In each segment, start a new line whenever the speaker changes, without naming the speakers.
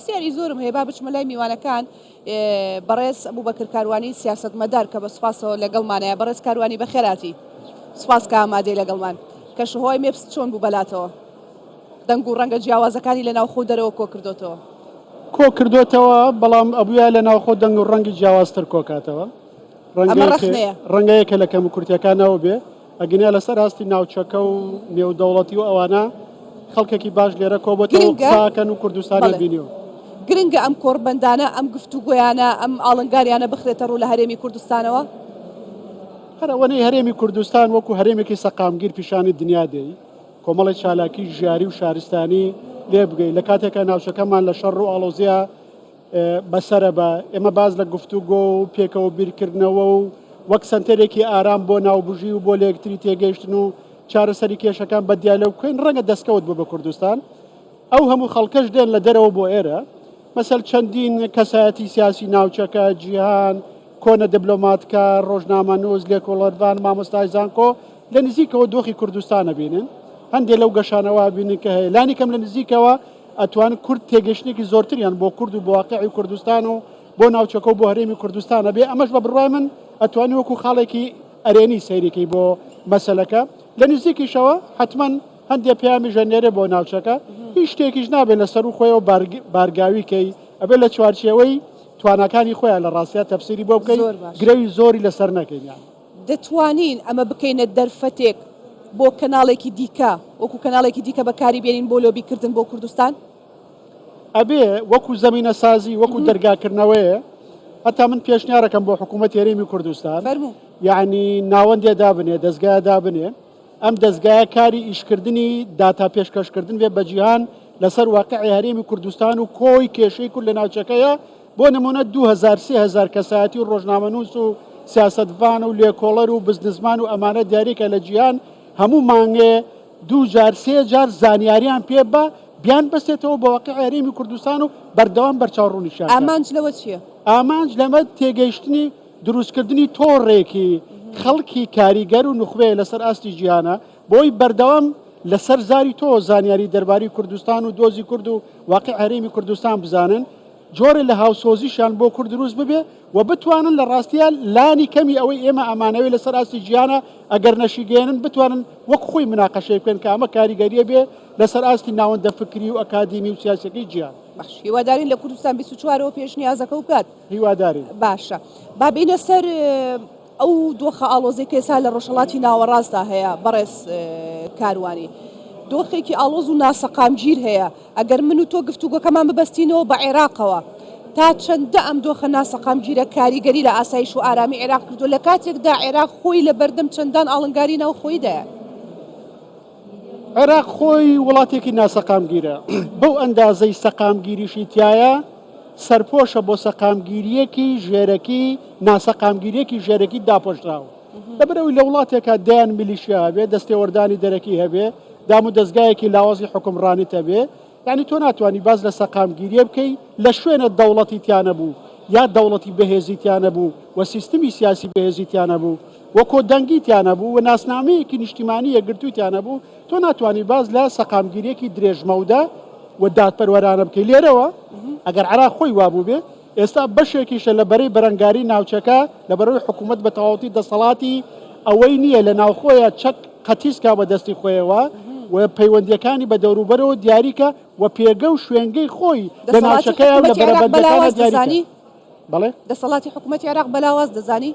پرسیاری زۆرم هەیە با بچمە لای میوانەکان بەڕێز ئەبوبەکر کاروانی سیاسەتمەدار کە بە سوپاسەوە لەگەڵمانەیە بەڕێز کاروانی بەخێراتی سوپاس کە ئامادەی لەگەڵمان کەشوهوای مێپس چۆن بوو بەلاتەوە دەنگ و ڕەنگە جیاوازەکانی لە ناوخۆ دەرەوە کۆ کردوتەوە کۆ کردوتەوە بەڵام ئەبووە لە ناوخۆ
دەنگ و ڕەنگی جیاوازتر کۆکاتەوە ئەمە ڕەخنەیە ڕەنگەیەکە لە کەم و کورتەکانەوە بێ ئەگینا لەسەر ئاستی ناوچەکە و نێودەوڵەتی و ئەوانە خەڵکێکی باش لێرە کۆبەتەوە و قساکەن و کوردستانیان بینیوە. گرنگە ئەم
کۆڕبەندانە، ئەم گفتوگۆیانە، ئەم ئاڵنگاریانە بخرێتە ڕوو لە هەرێمی کوردستانەوە؟
هەر ئەوەنەی هەرێمی کوردستان وەکو هەرێمێکی سەقامگیر پیشانی دنیا دەی کۆمەڵی چالاکی ژیاری و شارستانی لێ بگەی لە کاتێکە ناوچەکەمان لە شەڕ و ئاڵۆزیە بەسەرە بە ئێمە باز لە گفتوگۆ و پێکەوە بیرکردنەوە و وەک سەنتەرێکی ئارام بۆ ناوبژی و بۆ لە یەکتری تێگەیشتن و چارەسەری کێشەکان بە دیالە و کوێن ڕەنگە دەستکەوت بوو بە کوردستان ئەو هەموو خەڵکەش دێن لە دەرەوە بۆ ئێرە مەسەل چەندین کەسایەتی سیاسی ناوچەکە جیهان کۆنە دبلۆماتکە ڕۆژنامە نووز لێکۆڵەرڤان مامۆستای زانکۆ لە نزیکەوە دۆخی کوردستانە بینن هەندێک لەو گەشانەوە بینن کە هەیە لانی کەم لە نزیکەوە ئەتوان کورد تێگەشتنێکی زۆرتریان بۆ کورد و بۆ واقعی کوردستان و بۆ ناوچەکە و بۆ هەرێمی کوردستانە بێ ئەمەش بە بڕای من ئەتوانی وەکو خاڵێکی ئەرێنی سەیرێکی بۆ مەسلەکە لە نزیکیشەوە حتمما هەندێک پیامی ژەنێرە بۆ ناوچەکە هیچ شتێکیش نابێت لە سەر و خۆیەوە بارگاویکەی ئەبێت لە چوارچێوەی توانەکانی خۆیان لە ڕاستیا تەفسری بۆ بکەین گرەوی زۆری لەسەر نەکەین. دەتوانین
ئەمە بکەینە دەرفەتێک بۆ کەناڵێکی دیکە وەکو کەناڵێکی دیکە بەکاری بێنین بۆ لۆبی کردن بۆ کوردستان؟
ئەبێ وەکو زەمینە سازی وەکو دەرگا کردنەوەیە هەتا من پێشنیارەکەم بۆ حکوومەت هێرێمی کوردستان یعنی ناوەندێ دابنێ دەستگای دابنێ ئەم دەستگایە کاری ئیشکردنی داتا پێشکەشکردن بێ بە جیهان لەسەر واقعی هەرێمی کوردستان و کۆی کێشەی کورد لە ناوچەکەیە بۆ نموونە دوو هەزار سێ هەزار کەسایەتی و ڕۆژنامەنووس و سیاسەتڤان و لێکۆڵەر و بزنسمان و ئەمانە دیاریکە لە جیهان هەموو مانگێ دوو جار سێ جار زانیاریان پێ بە بیان بەستێتەوە بە واقعی هەرێمی کوردستان و بەردەوام بەرچاو ڕوونیشیان کات. ئامانج لەوە
چییە؟ ئامانج لەمە
تێگەیشتنی درووستکردنی تۆڕێکی خەڵکی کاریگەر و نوخبەیە لەسەر ئاستی جیهانە، بۆی بەردەوام لە سەر زاری تۆ زانیاری دەرباری کوردستان و دۆزی کورد و واقع هەرێمی کوردستان بزانن جۆرە لە هاوسۆزیشان بۆ کورد دروست ببێ و بتوانن لە ڕاستیان لانی کەمی ئەوەی ئێمە ئەمانەوەی لەسەر ئاستی جیانە ئەگەر نەشیگەێنن بتوانن وەک خۆی مناقەشەی بکەن کە ئەمە کاریگەریە بێ لەسەر ئاستی ناوەندە فکری و ئەکادیمی و سیاسەکەی جیان باش هیوادارین لە
کوردستان 24ەوە پێشنیازەکە و بکات هیوادارین باشە بابینە سەر ئەو دۆخە ئاڵۆزەی کە ئێستا لە ڕۆژهەڵاتی ناوەڕاستدا هەیە بەڕێز کاروانی، دۆخێکی ئاڵۆز و ناسەقامگیر هەیە، ئەگەر من و تۆ گفتوگۆکەمان ببەستینەوە بە عێراقەوە، تا چەندە ئەم دۆخە ناسەقامگیرە کاریگەری لە ئاسایش و ئارامی عێراق کردووە، لە کاتێکدا عێراق خۆی لەبەردەم چەندان ئاڵنگاری ناوخۆییدایە.
عێراق خۆی وڵاتێکی ناسەقامگیرە بەو ئەندازەی سەقامگیریشی تایە سەرپۆشە بۆ سەقامگیریەکی ژێرەکی ناسەقامگیریەکی ژێرەکی داپۆشراوە لەبەرەوەی لە وڵاتێکە دەیان میلیشیا هەبێ دەستێوەردانی دەرەکی هەبێ دام و دەستگایەکی لاوازی حکومڕانیت هەبێ یانی تۆ ناتوانی باس لە سەقامگیریە بکەی لە شوێنە دەوڵەتی تیانەبوو یا دەوڵەتی بەهێزی تیانەبوو و سیستمی سیاسی بەهێزی تیانەبوو و کۆدەنگی تیانەبوو و ناسنامەیەکی نیشتیمانی یەکگرتووی تیانەبوو تۆ ناتوانی باس لە سەقامگیریەکی درێژمەودە و دادپەروەرانە بکەی لێرەوە ئەگەر عراق خۆی وابوو بێ ئێستا بەشێکیشە لە بەرەی بەرەنگاری ناوچەکە لە بەرەوەی حکوومەت بە تەواوەتی دەسەڵاتی ئەوەی نییە لە ناوخۆیە چەک قەتیس کا بە دەستی خۆیەوە و پەیوەندیەکانی بە دەوروبەرەوە دیاریکە و پێگە و شوێنگەی خۆی لە ناوچەکە لە بەرەبەندەکانە دیاریکە بەڵێ دەسەڵاتی حکوومەتی
عێراق بەلاواز دەزانی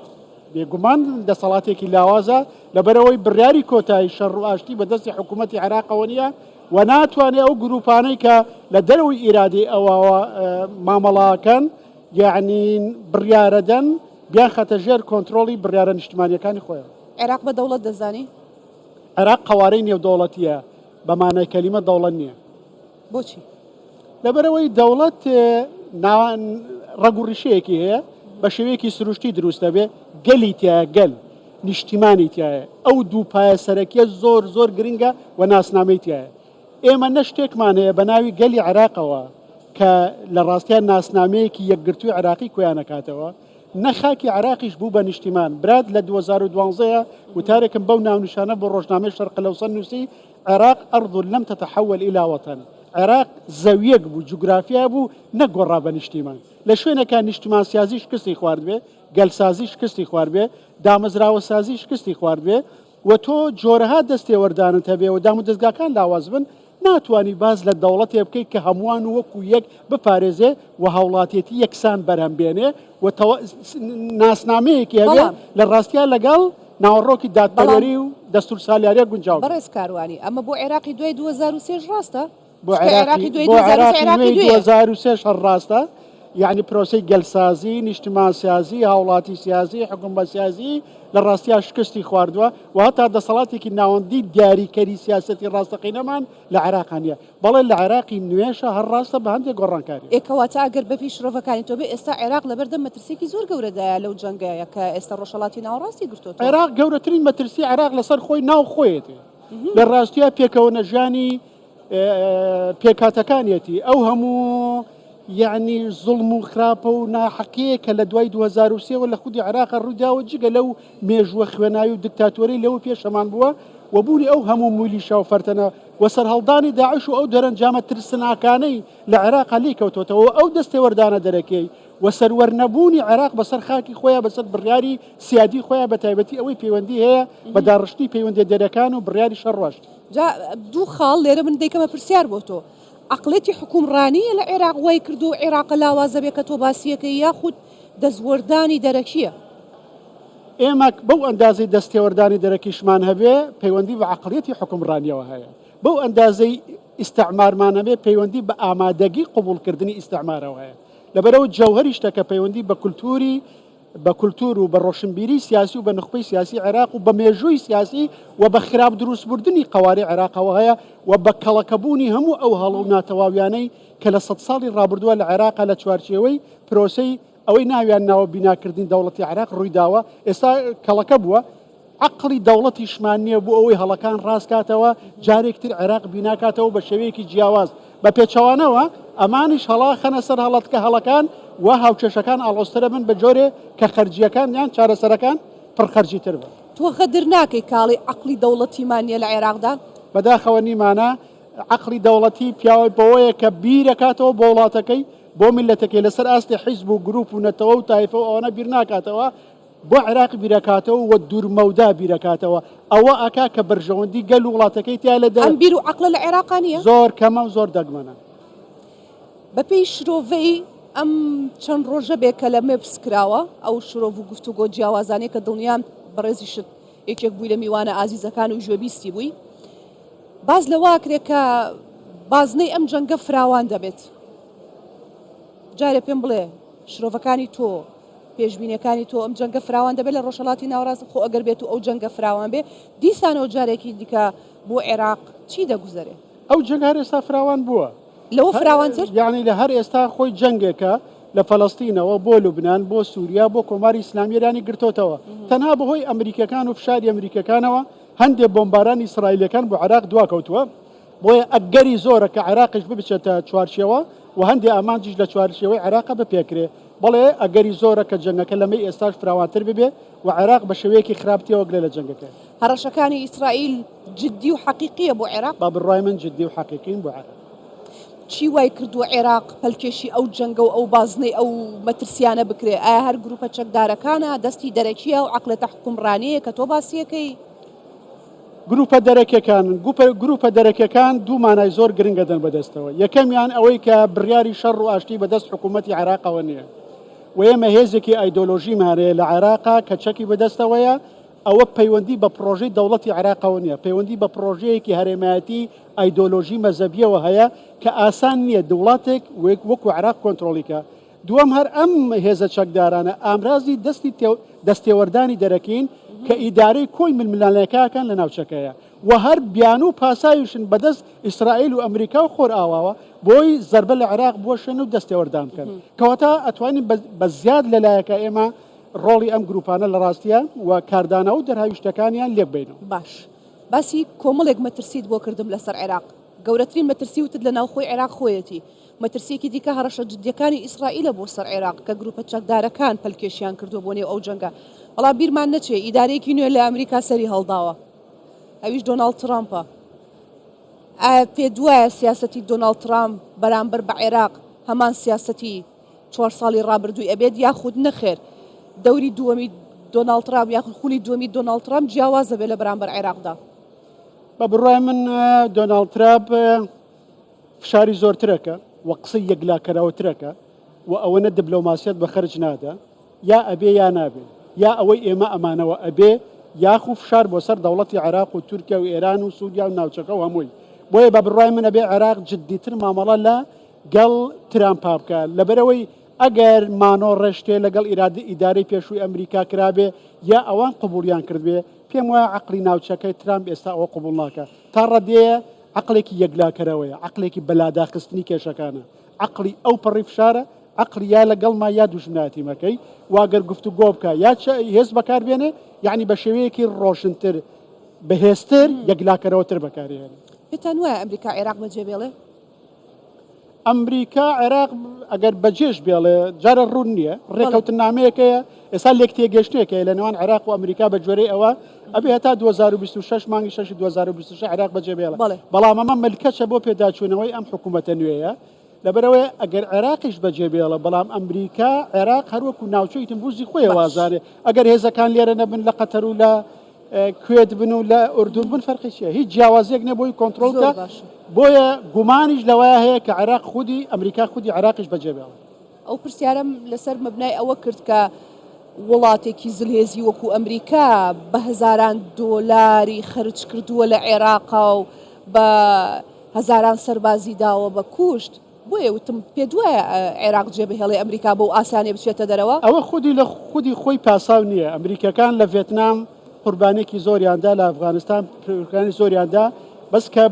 بێگومان
دەسەڵاتێکی لاوازە لەبەرەوەی بڕیاری کۆتایی شەڕ و ئاشتی بەدەستی حکوومەتتی عێراقەوە نیە و ناتوانێ ئەو گرووپانەی کە لە دەرەوەی ئیرادەی ئەوەوە مامەڵەکەن یەعنی بڕیارەدەن بیانخاتە ژێر کۆنترۆڵی بڕیارە نیشتمانیەکانی خۆیان. عێراق بە دەوڵەت
دەزانی؟ عێراق
قەوارەی نێودەوڵەتییە بە مانای کەلیمە دەوڵەت نییە. بۆچی؟
لەبەرئەوەی
دەوڵەت ڕەگوڕیشەیەکی هەیە بە شێوەیەکی سروشتی دروستە بێ گەلی تایە گەل نیشتیمانی تایە ئەو دوو پایە سەرەکیە زۆر زۆر گرنگە و ناسنامەی تایە ئێمە نەشتێکمان هەیە بە ناوی گەلی عراقەوە کە لە ڕاستیان ناسنامەیەکی یەکگرتووی عراقی کۆیانەکاتەوە نەخاکی عراقیش بوو بە نیشتیمان برات لە 2012 وتارێکم بەو ناونیشانە بۆ ڕۆژنامەی شەرقلەوسە نووسی عێراق ارض لم تتحول الی وطن، عێراق زەویەک بوو، جوگرافیا بوو، نەک گۆڕا بە نیشتیمان. لە شوێنێکا نیشتمانسازی شکستی خواردبێ، گەلسازی شکستی خواردبێ، دامەزراوەسازی شکستی خواردبێ و تۆ جۆرەها دەستێوەردانت هەبێ و دامودەزگاکان لاواز بن، ناتوانی باس لە دەوڵەتێ بکەی کە هەمووان وەکوو یەک بپارێزێ و هاوڵاتێتی یەکسان بەرهەم بێنێ و تەوا... ناسنامەیەکی هەبێت بەڵام. لە ڕاستیا لەگەڵ ناوەڕۆکی دادپەروەری و دەستور سالیاریا گونجاو بێت. بەڕێز کاروانی، ئەمە
بۆ عێراقی دوای دوو هەزار و سێ ش ڕاستە؟ بۆ چونکە عێراقی عێراقی
دوای بۆ دوو هەزار و سێ عێراقی عێراقی نوێی دوو دوێیە. هەزار و سێ ش هەر ڕاستە، یەعنی پرۆسەی گەلسازی، نیشتمانسازی، هاوڵاتی سیاسی، حکومە سیاسی، لە ڕاستیا شکستی خواردوە و هەتا دەسەڵاتێکی ناوەندی دیاریکەری سیاسەتی ڕاستەقینەمان لە عێراقا نیە. بەڵێ لە عێراقی نوێشە هەر ڕاستە بە هەندێک گۆڕانکاری. ئێ کەواتە ئەگەر بەپێی
شڕۆڤەکانی تۆ بێ ئێستا عێراق لەبەردەم مەترسیەکی زۆر گەورەدایە لەو جەنگەیە کە ئێستا ڕۆژهەڵاتی ناوەڕاستی گرتۆتەوە. عێراق گەورەترین
مەترسی عێراق لەسەر خۆی ناو خۆیەتی لە ڕاستیا پێکەوە نەژیانی پێکهاتەکانیەتی ئەو هەموو یعنی زوڵم و خراپە و ناحەقەیە کە لە دوای 2023 وە لە خودی عێراق ڕووداوە جگە لەو مێژووە خوێناوی و دکتاتۆرەی لەوە پێشەمان بووە و بوونی ئەو هەموو مولیشا و فەرتەنە و سەرهەڵدانی داعش و ئەو دەرەنجامە ترسناکانەی لە عێراقا لێ کەوتوتەوە و ئەو دەستێوەردانە دەرەکیەی و سەروەر نەبوونی عێراق بەسەر خاکی خۆیان بەسەر بڕیاری سیادی خۆیان بە تایبەتی ئەوەی پەیوەندی هەیە بە داڕشتنی پەیوەندیە دەرەکان و بڕیاری شەڕ ڕۆشت. جا دوو
خاڵ لێرە من دەیکەمە پرسیار بۆ تۆ، عەقڵێتی حکوومڕانییە لە عێراق وای کردووە عێراقە لاوازە بێ کە تۆ باسیەکەی یاخود دەستوەردانی دەرەکییە.
ئێمە بەو ئەندازەی دەستێوەردانی دەرەکیشمان هەبێ پەیوەندی بە عەقڵیەتی حوکمڕانیەوە هەیە، بەو ئەندازەی ئیستعمارمان هەبێ پەیوەندی بە ئامادەگی قبوڵکردنی ئیستعمارەوە هەیە. لەبەرئەوە جەوهەری شتەکە پەیوەندی بە کولتووری بە کولتوور و بە ڕۆشنبیری سیاسی و بە نوخبەی سیاسی عێراق و بە مێژووی سیاسی و بە خراپ درووستبردنی قەوارەی عێراقەوە هەیە و بە کەڵەکەبوونی هەموو ئەو هەڵە و ناتەواویانەی کە لە سەد ساڵی ڕابردووە لە عێراقا لە چوارچێوەی پرۆسەی ئەوەی ناویان ناوە بیناکردنی دەوڵەتی عێراق ڕوویداوە ئێستا کەڵەکە بووە عقلی دەوڵەتیشمان نییە بۆ ئەوەی هەڵەکان ڕاستکاتەوە جارێکتر عێراق بیناکاتەوە بە شێوەیەکی جیاواز بە پێچەوانەوە ئەمانیش هەڵا خەنە سەر هەڵەتکە هەڵەکان و هاوکێشەکان ئاڵۆسترە بن بە جۆرێ کە خەرجیەکان یان چارەسەرەکان پڕخەرجی تر بن. تۆ غەدر ناکەی
کاڵی عەقڵی دەوڵەتیمان نیە لە عێراقدا؟ بەداخەوە نیمانە.
عەقڵی دەوڵەتی پیاوە بەوەیە کە بیر ئەکاتەوە بۆ وڵاتەکەی، بۆ میللەتەکەی، لەسەر ئاستی حیزب و گروپ و نەتەوە و تایفە و ئەوانە بیر ناکاتەوە، بۆ عێراق بیر ئەکاتەوە و دوور مەودا بیر ئەکاتەوە، ئەوە ئەکا کە بەرژەوەندی گەل و وڵاتەکەی تیا لە ئەم بیر و عەقڵە لە عێراقا
نییە؟ زۆر کەمە و زۆر
دەگمەنە.
بە پێی شرۆڤەی ئەم چەند ڕۆژە بێ کەلەمێ پرس کراوە، ئەو شرۆڤ و گفتوگۆ جیاوازانەی کە دڵنیام بەڕێزیشت یەکێک بووی لە میوانە ئازیزەکان و گوێبیستی بووی، باس لەوە ئەکرێت کە بازنەی ئەم جەنگە فراوان دەبێت. جارێ پێم بڵێ شرۆڤەکانی تۆ پێشبینیەکانی تۆ ئەم جەنگە فراوان دەبێت لە ڕۆژهەڵاتی ناوەڕاست خۆ ئەگەر بێت و ئەو جەنگە فراوان بێ دیسانەوە جارێکی دیکە بۆ عێراق چی دەگوزەرێ؟ ئەو جەنگ هەر ئێستا
فراوان بووە لەوە فراوانتر
یعنی لە هەر ئێستا
خۆی جەنگێکە لە فەلەستینەوە بۆ لوبناان بۆ سووریا بۆ کۆماری ئیسلامی ئێرانی گرتۆتەوە تەنها بەهۆی ئەمریکەکان و فشاری ئەمریکەکانەوە هەندێک بۆمبارانی ئیسرائیلییەکان بۆ عێراق دواکەوتووە، بۆیە ئەگەری زۆرە کە عێراقیش ببچێتە چوارچێوە و هەندێک ئامانجیش لە چوارچێوەی عێراق بپێکرێ. بەڵێ ئەگەری زۆرە کە جەنگەکە لەمەی ئێستاش فراوانتر ببێ و عێراق بە شێوەیەکی خراپ تێوەگلێ لە جەنگەکە. هەڕەشەکانی ئیسرائیل
جددی و حەقیقییە بۆ عێراق؟ بە بڕوای من جددی و
حەقیقین بۆ عێراق. چی وای
کردووە عێراق پەلکێشی ئەو جەنگە و ئەو بازنەی ئەو مەترسیانە بکرێ ئایا هەر گروپە چەکدارەکانە دەستی دەرەکیە و عقلەتە حکومڕانەیە کە تۆ باسیەکەی گروپە دەرەکیەکان
گروپە دەرەکیەکان دوو مانای زۆر گرنگە دەن بەدەستەوە یەکەمیان ئەوەی کە بڕیاری شەڕ و ئاشتی بەدەست حکوومەتتی عراقەوە نییە و ئێمە هێزێکی ئایدۆلۆژی مارەیە لە عێراقا کە چەکی بەدەستەوەیە ئەوە پەیوەندی بە پرۆژەی دەوڵەتی عراقەوە نییە پەیوەندی بە پرۆژەیەکی هەرێمایەتی ئایدۆلۆژی مەزەبیەوە هەیە کە ئاسان نیە دوڵاتێک وەکو عێراق کۆنترۆڵی کا دوەم هەر ئەم هێزە چەکدارانە ئامرازی دەستی دەست تێوەردانی دەرەکین کە ئیدارەی کۆی ململانێکاکان لە ناوچەکەیە و هەر بیانوو پاساویشن بەدەست ئیسرائیل و ئەمریکا و خۆرئاواوە بۆی زەربە لە عێراق بوەشێن و دەست تێوەردان بکەن کەواتە ئەتوانین بە زیاد لە لایەکە ئێمە ڕۆڵی ئەم گروپانە لە ڕاستیە و کاردانەوە دەرهاویشتەکانیان لێک بینەوە باش. باسی
کۆمەڵێک مەترسیت بۆ کردم لەسەر عێراق، گەورەترین مەترسی وتت لە ناوخۆی عێراق خۆیەتی، مەترسیەکی دیکە هەڕەشە جدیەکانی ئیسرائیلە بۆ سەر عێراق کە گروپە چەکدارەکان پەلکێشیان کردوە بۆ نێو ئەو جەنگە، بەڵام بیرمان نەچێ ئیدارەیەکی نوێ لە ئەمریکا سەری هەڵداوە ئەویش دۆناڵد ترامپە، ئایا پێت وایە سیاسەتی دۆناڵد ترامپ بەرامبەر بە عێراق هەمان سیاسەتی. چوار ساڵی ڕابردووی ئەبێت یاخود نەخێر دەوری دووەمی دۆناڵد ترامپ یاخود خولی دووەمی دۆناڵد ترامپ جیاواز دەبێت لە بەرامبەر عێراقدا بە
بڕای من دۆناڵد ترامپ فشاری زۆرترەکە و قسەی یەکلاکەرەوەترەکە و ئەوەنە دبلۆماسیەت بە خەرج نادا یا ئەبێ یا نابێ یا ئەوەی ئێمە ئەمانەوە ئەبێ یاخو فشار بۆ سەر دەوڵەتی عراق و تورکیا و ئێران و سوودیا و ناوچەکە و هەمووی بۆیە بە بڕای منە بێ عراق جددیتر مامەڵە لە گەڵ ترامپا بکا لەبەرئەوەی ئەگەر مانۆ ڕێشتێ لەگەڵ ئیرادی ئیدارەی پێشووی ئەمریکا کرابێ یا ئەوان قبوڵیان کردبێ پێم وایە عەقڵی ناوچەکەی ترامپ ئێستا ئەوە قبوڵ ناکا تا ڕەدێیە عەقڵێکی یەکلاکەرەوەیە عەقڵێکی بەلاداخستنی کێشەکانە عەقڵی ئەو پەڕی فشارە عەقڵی یا لەگەڵ ما یا دوژمناتی مەکەی واگەر گفتو گۆ بکە یا هێز بەکار بێنێ یعنی بە شێوەیەکی ڕۆشنتر بەهێزتر یەکلاکەرەوەتر بەکارێنێ پێتان وایە ئەمریکا
عێراق بەجێ بێڵێ؟ ئەمریکا
عێراق ئەگەر بەجێش بێڵێ جارە ڕوون نییە ڕێکەوتنامەیەکەیە ئێستا لێک تێگەشتێکەیە لە نێوان عێراق و ئەمریکا بە جۆرەی ئەوە ئەبێ هەتا 2026 مانگی 6 2026 عێراق بەجێ بێڵە بەڵام ئەمە ملکەچە بۆ پێداچوونەوەی ئەم حکوومەتە نوێیە لەبەرەوەی ئەگەر عێراقیش بەجێ بێڵە بەڵام ئەمریکا عێراق هەروەکو ناوچەی تمبوزی خۆی وازارێ ئەگەر هێزەکان لێرە نەبن لە قەتەر و لە کوێت بن و لە ئوردون بن فەرقی چیە هیچ جیاوازێک نە بۆی کۆنتترۆل زۆر بە باش بۆیە گومانیش لەوەیە هەیە کە عێراق خودی ئەمریکا خودی عێراقیش بەجێبێڵێت ئەو پرسیارم
لەسەر مەبنای ئەوە کرد کە وڵاتێکی زلهێزی وەکو ئەمریکا بە هەزاران دۆلاری خرج کردووە لە عێراقا و بە هەزاران سەربازی داوە بە کوشت بۆیە وتم پێتوایە عێراق جێبهێڵێ ئەمریکا بەو ئاسانیە بچێتە دەرەوە؟ ئەوە خودی لە خودی
خۆی پاساو نیە، ئەمریکیەکان لە ڤێتنام قوربانێکی زۆریان دا لە ئەفغانستان قوربانی زۆریان دا بەس کە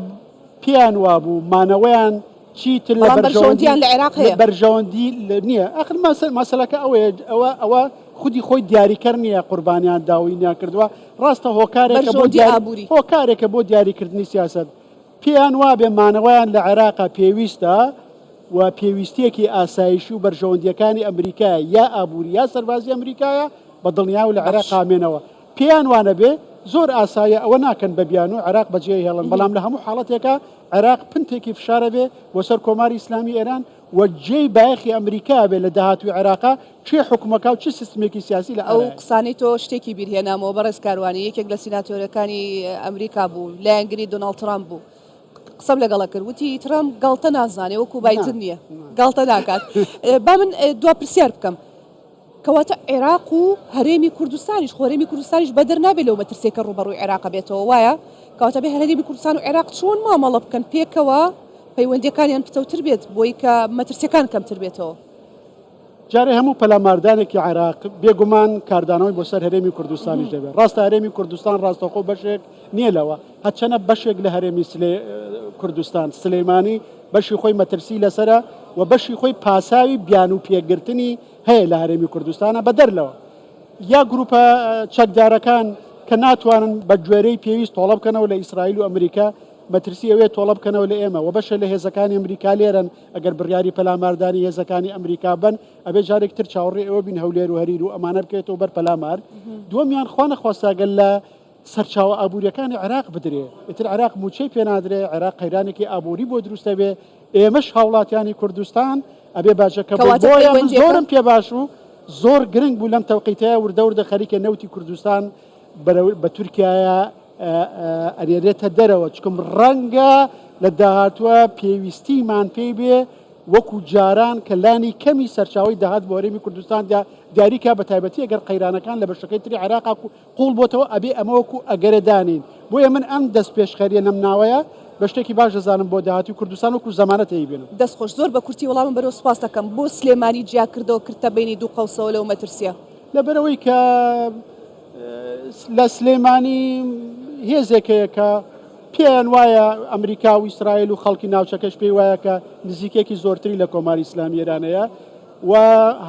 پێیان وابوو مانەوەیان چیتر لە بەرژەوەندیان لە عێراق هەیە
بەرژەوەندی
نییە ئەخر مەسەلەکە ئەوەیە ئەوە ئەوە خودی خۆی دیاریکەر نییە قوربانیان داوینیان کردووە ڕاستە هۆکارێک بۆ دیابووری هۆکارێکە بۆ دیاریکردنی سیاست پێیان وابێ مانەوەیان لە عێراقە پێویستە و پێویستیەکی ئاسایشی و بەرژەوەندیەکانی ئەمریکا یا ئابووری یا سەربازی ئەمریکایە بە دڵنیا و لە عێراق قامێنەوە پێیان وانە بێ زۆر ئاسایە ئەوە ناکەن بە بیان و عێراق بەجێ هێڵن بەڵام لە هەموو حاڵەتێکە عێراق پنتێکی فشارە بێ بۆ سەر کۆماری ئیسلامی ئێران و جێی بایەخی ئەمریکا بێت لە داهاتووی عێراقا، کێ حوکمەکا و چ سیستمێکی سیاسی لە ئارایە؟ ئەو قسانەی تۆ
شتێکی بیر هێنامەوە بەڕێز کاروانی یەکێک لە سیناتۆرەکانی ئەمریکا بوو لایەنگری دۆناڵد ترامپ بوو قسەم لەگەڵە کرد وتی ترامپ گاڵتە نازانێ وەکو بایدن نییە گاڵتە ناکات با من دوا پرسیار بکەم کەواتە عێراق و هەرێمی کوردستانیش، خۆ هەرێمی کوردستانیش بەدەر نابێت لەو مەترسیەی کە ڕووبەڕووی عێراق بێتەوە وایە؟ کەواتە ئەبێت هەرێمی کوردستان و عێراق چۆن مامەڵە بکەن پێکەوە پەیوەندیەکانیان پتەوتر بێت بۆی کە مەترسیەکان کەمتر بێتەوە؟ جارێ
هەموو پەلاماردانێکی عێراق بێگومان کاردانەوەی بۆ سەر هەرێمی کوردستانیش دەبێت، ڕاستە هەرێمی کوردستان ڕاستەوخۆ بەشێک نیە لەوە، هەرچەنە بەشێک لە هەرێمی کوردستان سلیمانی بەشی خۆی مەترسی لەسەرە و بەشی خۆی پاساوی بیانوو پێگرتنی هەیە لە هەرێمی کوردستانە بە دەر لەوە یا گروپە چەکدارەکان کە ناتوانن بە گوێرەی پێویست تۆڵە بکەنەوە لە ئیسرائیل و ئەمریکا مەترسی ئەوێ تۆڵە بکەنەوە لە ئێمە و بەشە لە هێزەکانی ئەمریکا لێرن ئەگەر بڕیاری پەلاماردانی هێزەکانی ئەمریکا بن ئەبێ جارێک تر چاوەڕێ ئەوە بین هەولێر و هەریر و ئەمانە بکەێتەوە بەر پەلامار دووەمیان خوانە خواستاگەل لە سەرچاوە ئابووریەکانی عێراق بدرێ، ئیتر عێراق مووچەی پێ نادرێ، عێراق قەیرانێکی ئابووری بۆ دروست ئەبێ، ئێمەش هاوڵاتیانی کوردستان ئەبێ باجەکە بۆ بۆیە من زۆرم پێ باش و زۆر گرنگ بوو لەم تەوقیتەیە وردە وردە خەریکە نەوتی کوردستان بە تورکایە ئەرێنێتە دەرەوە چکم ڕەنگە لە داهاتوە پێویستیمان پێی بێ وەکو جاران کە لانی کەمی سەرچاوی داهات بۆرێمی کوردستاندا دیاریکە بە تایبەتی ئەگەر قەیرانەکان لە بەشەکەی تری عراق قوڵ بۆتەوە ئەبێ ئەمە وەکو ئەگەرە دانێین بۆیە من ئەم دەست پێشخەریە نەم ناوەیە بە شتێکی باش دەزانم بۆ داهاتی کوردستان وەکو زەمانەت هەیی بێنم. دەست خۆش زۆر بە کورتی
وەڵامم بەرەوە سوپاست دەکەم بۆ سلێمانی جیا کردەوە کردتە بەینی دوو قەوسەوە لەو مەترسیە. لەبەرئەوەی کە
لە سلێمانی هێزێک هەیە کە پێیان وایە ئەمریکا و ئیسرائیل و خەڵکی ناوچەکەش پێی وایە کە نزیکێکی زۆرتری لە کۆماری ئیسلامی ئێران هەیە و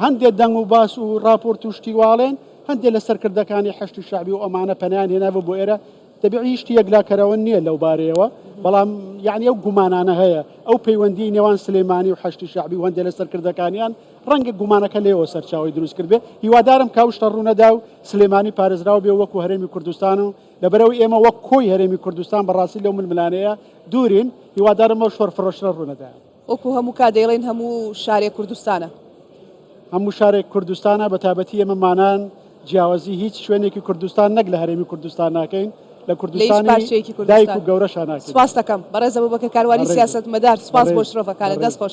هەندێک دەنگ و باس و راپۆرت و شتیواڵێن هەندێ لە سەرکردەکانی حەشدی شەعبی و ئەمانە پەنایان هێنابوو بۆ ئێرە تەبیعی هیچ یەکلاکەرەوە نییە لەو بارەیەوە بەڵام یعنی ئەو گومانانە هەیە ئەو پەیوەندی نێوان سلێمانی و حەشتی شەعبی و هەندێ لە سەرکردەکانیان ڕەنگە گومانەکە لێەوە سەرچاوی دروست کرد بێ هیوادارم کاوشتە ڕوونەدا و سلێمانی پارێزراو بێ وەکو هەرێمی کوردستان و لەبەرەوە ئێمە وەک کۆی هەرێمی کوردستان بەڕاستی لەو ململانەیە دوورین هیوادارمەوە شۆر فرۆشرە ڕوونەدایە وەکو هەموو کات
دەیڵێین هەموو شارێک کوردستانە. هەموو
شارێک کوردستانە بە تابەتی ئێمە مانان جیاوازی هیچ شوێنێکی کوردستان نەک لە هەرێمی کوردستان ناکەین لە کوردستانی دایک و گەورەشان
سپاس
دەکەم
بەڕێزەوە بەکە
کاروانی
سیاست مەدار سپاس بۆ شرۆڤەکانە
دەست
خۆش.